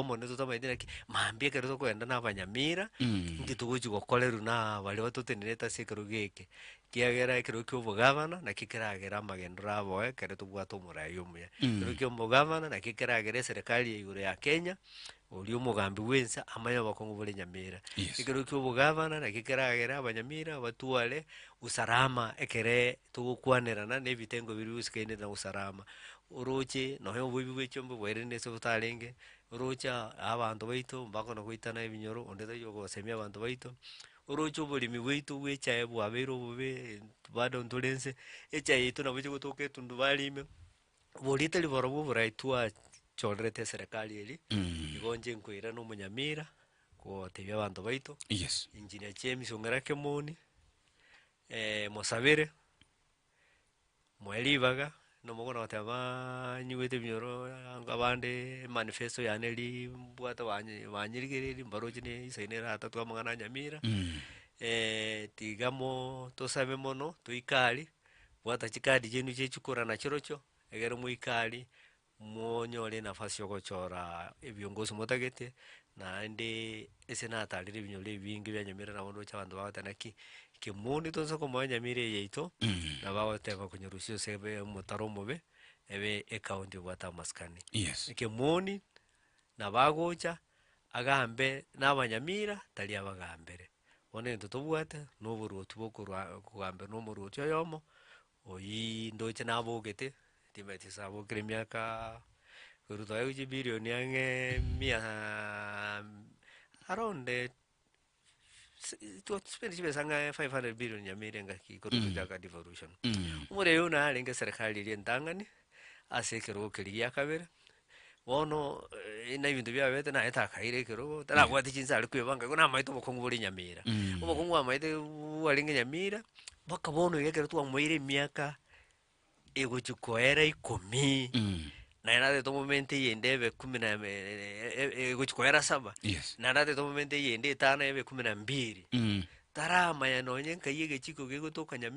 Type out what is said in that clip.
omonene totamanyeti naki, mambia ekero tokogenda na abanyamira, Mm. inki togochi gokorerwa na baria batotenerete ase ekerogo eke, ekiagera ekerogo kia obogavana nakio keragere amagendero abo ekero tobwate omorai omuya. Mm. Ekerogo kia omogavana nakio keragere eserekari ya igoro ya Kenya, oria omogambi bwensa amanye obokong'u bore nyamira. Yes. Ekerogo kia obogavana nakio keragere abanyamira batware usalama ekere togokwanerana na ebitengo biria bigosikaine na usalama. Orooche nonya oboibi bwe chiombe bwairende ase obotarenge, orooche abanto baito mbakona goitana ebinyoro, onde tari ogosemia abanto baito, orooche oboremi bwaito bwe echae bwabeire obobe bado ntore nse, echae yaito nabo chigotoka etundubari ime, boria tari borobwo oborai twa chorerete eserekari eria, igo nche nkoirana omonyamira, gotebia abanto baito, Yes. engineer James ong'erake moni, mosabere. Moe ribaga, na omogora ogoteba banyigwete ebinyoro anga abande manifesto yane eri mbwate banye banyirigereri mbaroche ne esaino eratatu amang'ana a nyamira, tiga mo tosabe mono, toika aria, bwata chikadi chiaino chia echikura na chirochio, egere moika aria, Monyore enafasi y'ogochora ebiongo gose motagete, naende ase natarire ebinyoro ebinge bia nyamira nabo ndoche abanto bagoteba naki kemooni tonsa komoa enyamira eye yaito, na bagoteba konyerusia ase ebe omotaro omobe, ebe ekaunti ebwate amasikani. Yes. Kemooni nabo agocha agambe na abanyamira tari abagambere. Bono egento tobwate na oboruoti bokorwa kogamberwa na omoruoti oyomo, Oyii ndoche nabogete, timanyeti gose abokire emiaka korwa togaiga gochia ebilioni ang'e mia around twa spend chibesa ang'e five hundred billion nyameri engaki korwa tochaka devolution. Omorero oyio narenge eserekari eria entang'ani ase ekerogo keria giakabere. Bono eh, na ebinto biabete naye takaire ekerogo tarabwati chinsa ari kwebanga igo namaete obokongu bore nyamira Mm. obokongu bwamaete bwarenge nyamira mpaka bono iga ekero twamoire emiaka egochi koera ikomi Mm. naye natete tomomente eyende ebe kumi na me- e- e- e- egochi koera saba Yes. naye natete tomomente eyende etano ebe kumi na mbiri Mm. taramanya nonye nkai egechiko gegotoka nyamira